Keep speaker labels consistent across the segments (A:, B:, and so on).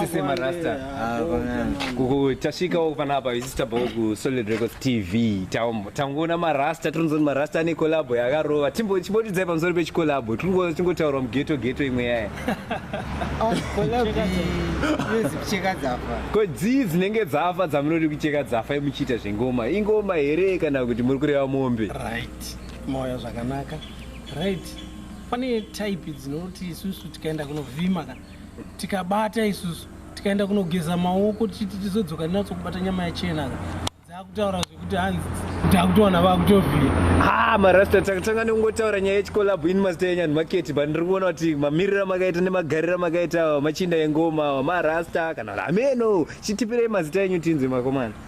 A: Sisema Rasta kuku tasvikawo panapa isu tabva ku Solid Records TV tangoona marasta tinonzoni marasta ane collabo yakarova chimbotidzai pamusoro pechikolabo tingotaura mugeto geto imwe yaya ko dzii dzinenge dzafa dzamunoti kucheka dzafa muchiita zvengoma ingoma here kana kuti muri kureva mombe right moyo zvakanaka right pane type dzinoti isusu tikaenda kunovhima kana tikabata isusu tikaenda kunogeza maoko tichiti tizodzoka tinatso kubata nyama yachena dzakutaura zvekuti hanzi takutoona vakutovhiya ha marasta takatanga nekungotaura nyaya yechikolabhu ini mazita enyu anhu maketi but ndiri kuona kuti mamiriro amakaita nemagariro amakaita awa machinda engoma awa marasta kana kuti hameno chitipirei mazita enyu tinzwe makomana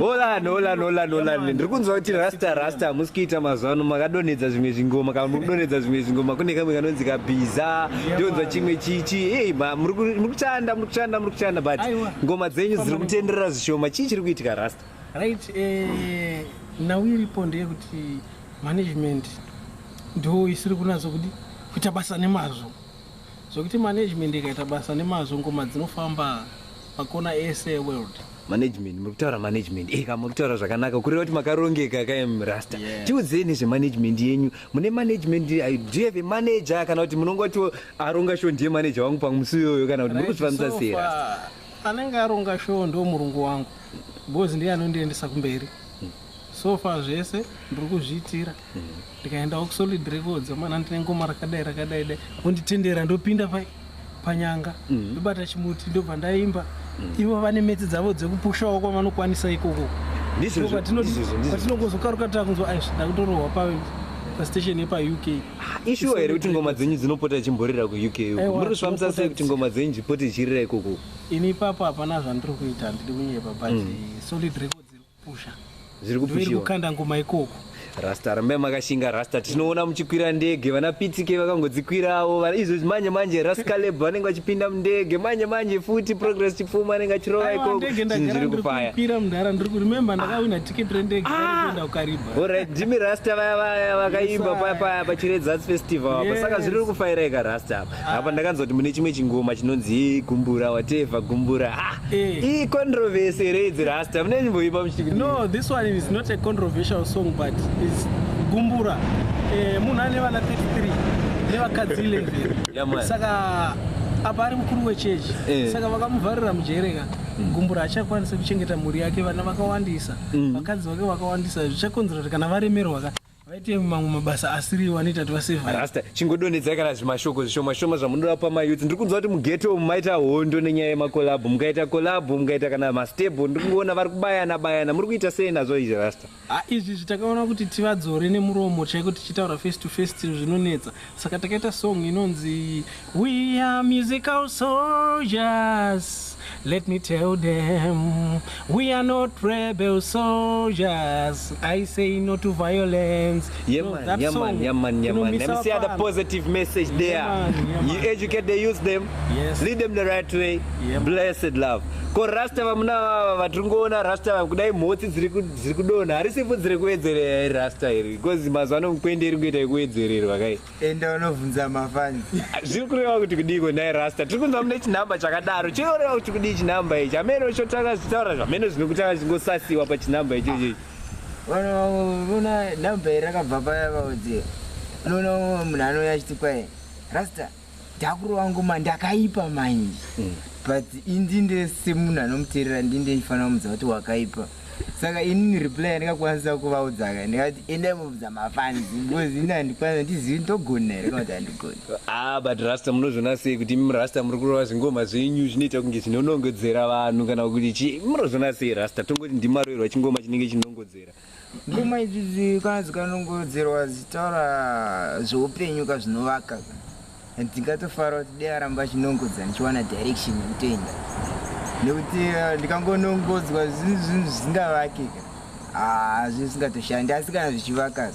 A: Olan, Olan, Olan, Olan. Ndiri kunzwa kuti rasta rasta hamusi kuita mazuva ano makadonhedza zvimwe zvingoma kana muri kudonhedza zvimwe zvingoma kune kamwe kanonzi kabhiza ndonzwa chimwe chichi ei muri kuchanda muri kuchanda muri kuchanda but ngoma dzenyu dziri kutenderera zvishoma chii chiri kuitika rasta right eh, nhau iripo ndeyekuti management ndo isiri kunatso kudi kuita basa nemazvo zvokuti management ikaita basa nemazvo ngoma dzinofamba makona ese eworld management muri kutaura management eka eh, muri kutaura zvakanaka kureva kuti makarongeka kaim rasta yeah. tiudzei nezvemanagement yenyu mune management do you have a manager kana kuti munongotiwo aronga sho ndiye manager wangu pamusi iyoyo kana kuti muri kuzvifambisa sei anenge aronga sho ndo murungu wangu because ndiye anondiendesa kumberi hmm. so far zvese ndiri kuzviitira ndikaendawo kusolid records amana ndine ngoma rakadai rakadai dai vonditendera ndopinda pai panyanga mm. ndobata chimuti ndobva ndaimba mm. ivo vane metsi dzavo dzekupushawo kwavanokwanisa ikoko patinongozokaruka takunzwa aizvi ndakutorohwa pa pastation yepauk ah, ishuwa here kuti ngoma dzenyu dzinopota ichimborira kuuk muri kuzvifambisa sei kuti ngoma dzenyu dzipote ichirira ikoko ini ipapo hapana zvandiri kuita handidi kunyepa but mm. solid records iri Pusha. Zviri kupushiwa. Kukanda ngoma ikoko. Rasta rambai makashinga rasta tinoona muchikwira ndege vana pitsike vakangodzikwirawo izvozvi manje manje rascaleb vanenge vachipinda mundege manje manje futi progress chipfuma anenge achirova ikoko zviri kufaya orit ndimi rasta vaya vaya vakaimba paya paya pachiredzas festival apa saka zviri kufaira ika rasta apa apa ndakanzwa kuti mune chimwe chingoma chinonzi gumbura wateva gumbura ah, eh. ii controversy here idzi rasta mune nyimboipa muchiti kuti no this one is not a controversial song but is gumbura eh, munhu ane vana 33 nevakadzi 11 saka apa ari mukuru wechechi eh. saka vakamuvharira mujere ka mm. gumbura hachakwanisa kuchengeta mhuri yake vana vakawandisa mm. vakadzi vake vakawandisa zvichakonzera kuti kana varemerwa ka vaite mamwe mabasa asiriwo anoita kuti vaseva rasta chingodonhedzai kana zvimashoko zvishoma shoma zvamunoda pa mayouth ndiri kunzwa kuti mugeto umu maita hondo nenyaya yemakolabho mukaita kolabho mukaita kana mastable ndiri kungoona vari kubayana bayana muri kuita sei nazvo izvi rasta ah, izvi zvitakaona kuti tivadzore nemuromo chaiko tichitaura face to face zvinonetsa saka takaita song inonzi we are musical soldiers let me tell them we are not rebel soldiers i say no to violence yeah, no, man, yeah, man, yeah, man, yeah, man. Let me see the positive message there yeah, man, yeah, man. you educate they use them yes. lead them the right way yeah, blessed love ko rasta vamuna vava vatiri ngoona rasta vava kudai mhotsi dziri ziri kudonha harisi vhudzi rekuwedzerera iri rasta iri because mazuva ano mukwende iri kuita yekuwedzererwa kai enda unovhunza mafani zviri kureva kuti kudiiko nhai rasta tiri kunzwa mune chinhamba chakadaro chinoreva kuti kudii chinhamba ichi hameno chotanga zvitaura zvameno zvino kutanga chingosasiwa pachinhamba icho ichochi vanoona nhamba iri rakabva paya vaudzi unoona munhu anouya achiti kwai rasta Ndakuru wangu ma ndakaipa mind mm. but indinde semunhu anomuteerera ndinde ndifanira kumudza kuti wakaipa saka inini reply yandikakwanisa kuvaudza ka ndikati endai mubvudza mafans because ini handikwanisa ndizivi ndogona here kana kuti handigoni ah but rasta munozviona sei kuti imi rasta muri kurova zvingoma zvenyu zvinoita kunge zvinonongedzera vanhu kana kuti chii munozviona sei rasta tongoti ndimaroerwa chingoma chinenge chinongodzera Ngoma idzidzi kana dzikanongodzerwa dzitaura zveupenyu ka zvinovaka ndingatofara kuti dai aramba achinongodza ndichiwana direction yekutoenda nekuti eh, ndikangonongodzwa zvinhu zvinhu zvisingavake ka ah, hazvisingatoshandi asi kana zvichivaka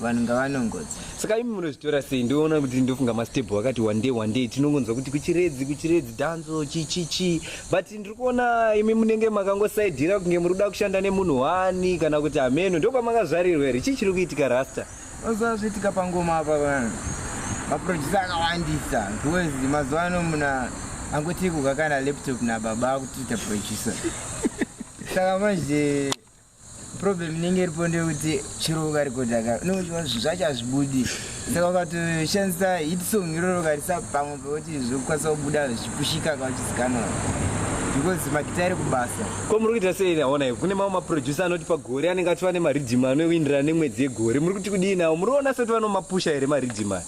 A: vanhu ngavanongodza saka imi munozvitora sei ndoona kuti ndofunga mastebho wakati one day one day tinongonzwa kuti kuchiredzi kuchiredzi dhanzo chichichi but ndiri kuona imi munenge makangosaidhira kunge muri kuda kushanda nemunhu wani kana kuti hameno ndopamakazvarirwa here chii chiri kuitika rasta oziva zviitika pangoma apa vanhu maproducer akawandisa because mazuva ano muna angoti kukakana laptop nababa akutiita producer saka manje problem inenge iripo ndeyekuti chero ukarekodha ka unenge uchiona zvinhu zvacho hazvibudi saka ukatoshandisa hit song iroro ukarisa pamwe pekuti zvokukwanisa kubuda zvichipushika ka uchizikanwa because magita ari kubasa ko muri kuita sei naona kune mamwe maproducer anoti pagore anenge achiva nemaridhima anoindirana nemwedzi yegore muri kuti kudii nawo muri kuona sekuti vanomapusha here maridhima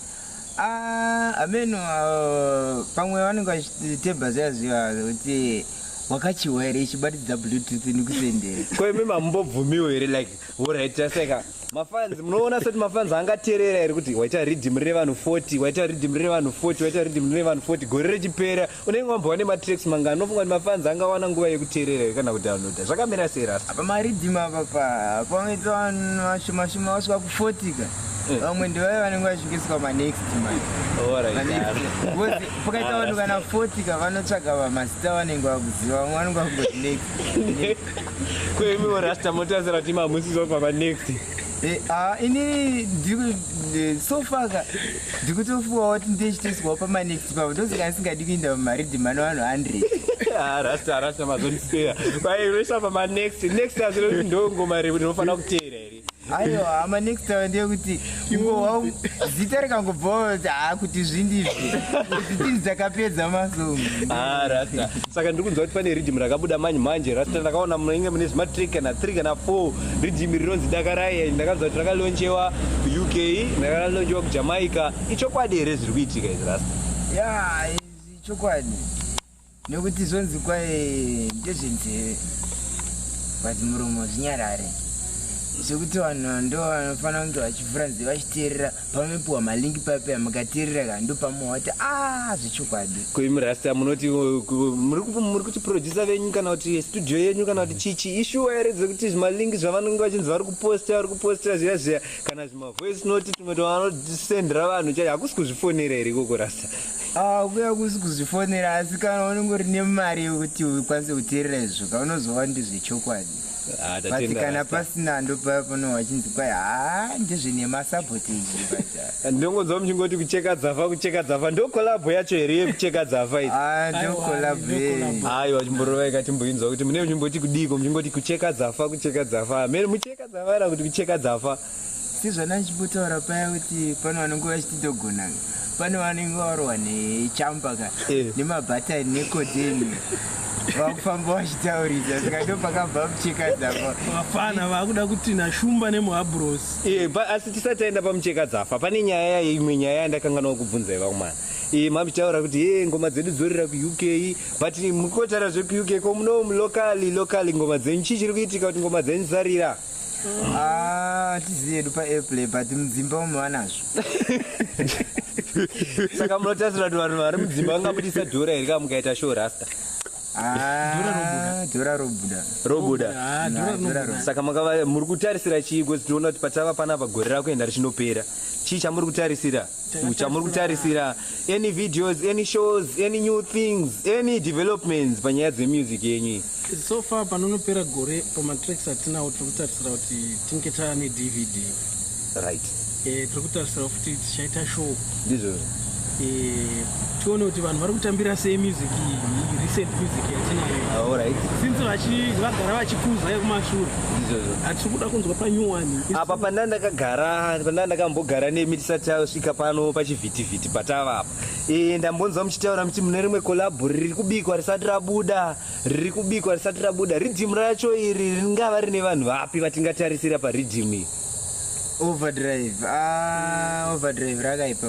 A: Ah, ameno uh, pamwe vanenge vachiteba ziyaziva kuti wakachiwa here ichibatidza bluetooth nikusendere ko imi mamumbobvumiwo here like orit taseka mafanzi munoona sekuti mafanzi angateerera here kuti waita riddim revanhu 40 waita riddim revanhu 40 waita riddim revanhu 40 gore rechipera unenge wambova nematracks manga anofunga kuti mafans angawana nguva yekuteerera here kana kudownloada zvakamira sei rasta apa mariddim apa panoita vanhu vashomashoma vasvika kufotika eh. vamwe ndivave vanenge vachingeswa manext mapakaita vanhu kana fotika vanotsvaga vamazita vanenge vakuziva vamwe vanenge vakungoti next kuimiwo rasta motarisira kuti mamusizopa manext eh, ah, ini ndiri eh, sofaka ndikutofuwa wati ndechiteswawo pamanext pavo ndozika ndisingadi kuinda pamaridhi mano vanhu 100 rasta rasta mazondispeya vairoisa pamanext next azinozi ndongoma revo ndinofanira kuteera here aiwa hama next time ndeyekuti iwowa zita rikangobvawo haakuti zvindizvi zitini dzakapedza masongo ah, rasta saka ndiri kunzwa kuti pane ridhimu rakabuda manje manje rasta ndakaona munenge mune zvimatree kana three kana four ridhimi rinonzi dakarai and ndakanzwa kuti rakalonchewa kuuk ndakalonchewa kujamaica ichokwadi here zviri kuitika izvi rasta ya ichokwadi nekuti zvonzi kwaye ndezvenzeve but muromo zvinyarare zvekuti vanhu ndo vanofanira kunge vachivhura nzeve vachiteerera pamapiwa malingi papeya mukateerera ka ndopamuwa wati a ah, zvechokwadi koimurasta munoti muri kuchiproducer venyu kana kuti studio yenyu kana kuti chichi ishuwa here dzekuti zvimalingi zvavanenge vachinzi vari kuposta vari kupostira zviya zviya kana zvimavoice noti tumwe twavanodisendera vanhu chai hakusi kuzvifonera here ikoko rasta ah, kuya kusi kuzvifonera asi kana unenge uri nemari yekuti ukwanise kuteerera izvo ka unozowa ndizvechokwadi Ah, but tatenda kana rasta. pasina ndopaya pano wachinzi kwai haa ndizvi nemasabotage but ndongonzwa muchingoti kucheka dzava kucheka dzava ndo kolabho yacho here yekucheka dzava idzi ah Aiwa, ndokolabhe ndokolabhe. hayi vachimborova ikati mboinzwa kuti mune muchimboti kudiiko muchingoti kucheka dzafa kucheka dzafa mene mucheka dzavara kuti kucheka dzafa sezvana ndichimbotaura paya kuti pane vanenge vachitidogona pane vanenge varohwa nechamba ka eh. nemabhatani nekodeni vakufamba vachitaurisa saka ndo pakabva muchekadzafa vafana vakuda kuti nashumba nemuhabros eh, asi tisati taenda pamuchekadzafa pane nyaya yaye imwe nyaya yandakanganwa kubvunzai vakumana eh, mamitaura kuti ye ngoma dzedu dzorira kuuk but mukotara zvekuuk ko muno mulokali lokali ngoma dzenyu chii chiri kuitika kuti ngoma dzenyu dzarira Ah, tizi yedu paairplay but mudzimba umo vanazvo saka munotarisira kuti vanhu vari mudzimba vangabudisa dhora here ka mukaita show rasta Ah, dhora robuda robuda Ah, dhora Ah, dhora robuda. saka makava muri kutarisira chii because tinoona kuti patava panapa gore rakuenda richinopera chii chamuri kutarisira chamuri kutarisira any videos any shows any new things any developments panyaya dzemusic yenyu so far panonopera gore pamatracks atinawo tiri kutarisira kuti tinge taane dvd right e, tiri kutarisira futi tichaita show ndizvozvo e, tione kuti vanhu vari kutambira sei music iyi recent music yatinayo ah, since vagara vachikuza yekumashure hatiri kuda kunzwa panew one apa pandanga ndakagara pandanga ndakambogara nemi tisati tasvika pano pachivhitivhiti patava apa e, ndambonzwa muchitaura muti mune rimwe kolabhu riri kubikwa risati rabuda riri kubikwa risati rabuda ridhimu racho iri ringava rine vanhu vapi vatingatarisira paridhimu iyi overdrive ah, overdrive rakaipa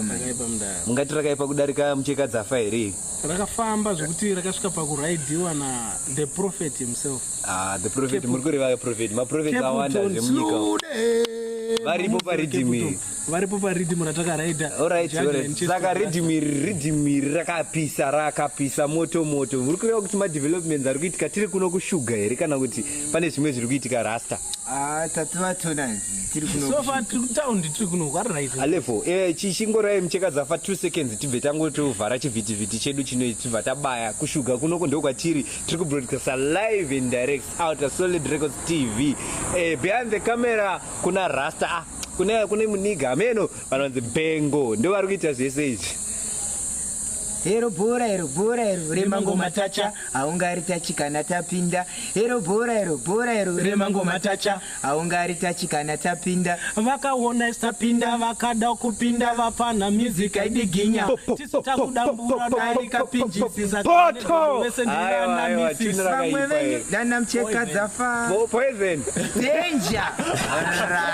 A: mungati rakaipa kudarika mucheka dzafa here rakafamba zvekuti rakasvika pakuraidiwa na the prophet himself ah, the prophet muri kureva prophet maprofet awanda zvemunyika varipo paridhimi varipo paridhimi ratakaraida saka ridhimi ridhimi rakapisa rakapisa moto moto muri kureva kuti madevelopments ari kuitika tiri kuno kushuga here kana kuti pane zvimwe zviri kuitika rasta ah, alevo eh, chingorai mucheka dzafa two seconds tibve tangotovhara chivhitivhiti chedu chino tibva tabaya kushuga kunoko ndo kwatiri tiri kubroadcasta live and direct out a solid records tv eh, behind the camera kuna rasta ah, kune kune muniga ameno vanonzi bengo ndo vari kuita zvese izvi hero bhora hero bhora hero remangoma tacha haungari tachikana tapinda ero bhora ero bhora ero remangoma tacha haungari tachikana tapinda vakaona isapinda vakada kupinda vapfanha music aidiginya tisu takuda mbura dai kapinjisisa wese ndinanamisisa dana mcheka dzafa poison danger